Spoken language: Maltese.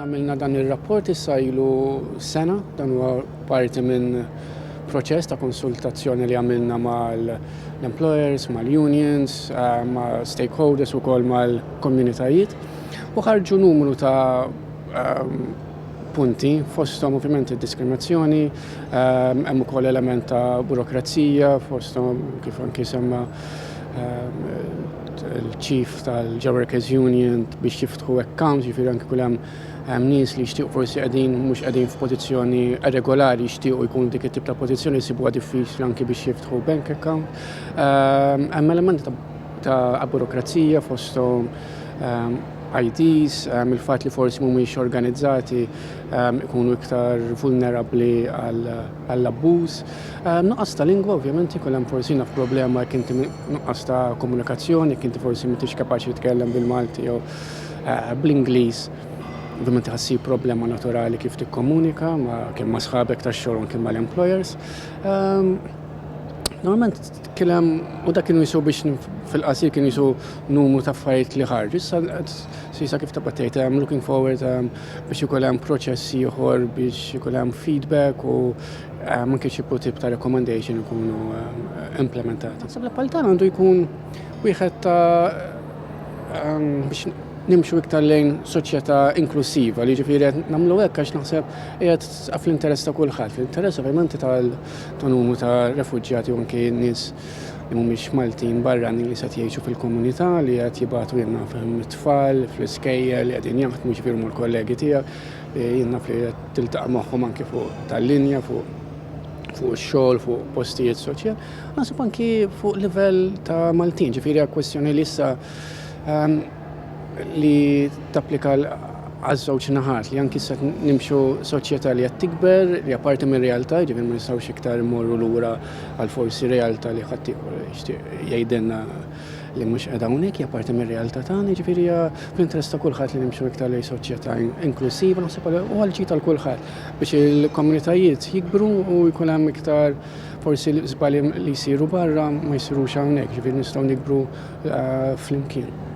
Għamilna dan ir-rapport issa ilu sena, dan huwa parti minn proċess ta' konsultazzjoni li għamilna mal-employers, mal-unions, eh, ma' stakeholders u kol mal-komunitajiet u ħarġu numru ta' ehm, punti fostom ovvjament diskriminazzjoni, ehm, hemm ukoll element ta' burokrazija fostom kif anki semma ehm, il-ċif tal-Workers Union biex jiftħu accounts, ġifieri anke kull hemm hemm nies li jixtiequ forsi qegħdin mhux qegħdin f'pożizzjoni regolari jixtiequ jkun dik it-tip ta' pożizzjoni jsibuha diffiċli anke biex jiftħu bank account. Ehm, hemm elementi ta' burokrazija fosthom ehm, IDs, ehm, il-fatt li forsi mhumiex organizzati ikunu iktar vulnerabbli għal għall-abbuż. Nuqqas ta' lingwa ovvjament ikun hemm forsi naf problema jekk inti nuqqas ta' komunikazzjoni, jekk inti forsi m'intix kapaċi titkellem bil-Malti jew eh, bl-Ingliż. Ovvjament ħassib problema naturali kif tikkomunika ma' kemm ma' sħabek tax-xogħol kemm mal-employers. Ehm, normalment Tkellem u dak kienu jisu biex fil-qasir kienu jisu numru ta' affarijiet li ħarġu. Issa sisa kif tabqa' tgħid hemm looking forward ehm, biex ikun hemm proċess ieħor biex ikun hemm feedback u ehm, anke xi tip ta' recommendation ikunu ehm, implementati. Sabla paltan għandu jkun wieħed ta' biex nimxu iktar lejn soċjetà inklusiva li ġifieri qed nagħmlu hekk għax naħseb qiegħed Sa fl-interess ta' kulħadd, fl-interess ovvjament ta' numru ta' refuġjati u anke nies li mhumiex Maltin barranin li se jgħixu fil-komunità li qed jibgħatu jien naf hemm it-tfal fl-iskejjel li qegħdin jaħdmu jiġifieri huma l-kollegi tiegħek li jien naf li qed tiltaqa' magħhom anke fuq tal-linja fuq fuq ix-xogħol, fuq postijiet soċjal, naħseb anki fuq livell ta' Maltin, ġifieri kwestjoni li issa ehm, li tapplika għaż-żewġ naħat li anki se nimxu soċjetà li qed tikber li apparti minn realtà ġifieri ma nistgħux iktar immorru lura għal forsi realtà li ħadd jgħidilna li mhux qiegħda hawnhekk hija parti mir-realtà tagħna, jiġifieri hija fl-interess ta' kulħadd li nimxu iktar lejn soċjetà inklusiva naħseb u għal tal kulħadd biex il-komunitajiet jikbru u jkun hemm iktar forsi żbalji li jsiru barra ma jsirux hawnhekk, jiġifieri nistgħu nikbru eh, flimkien.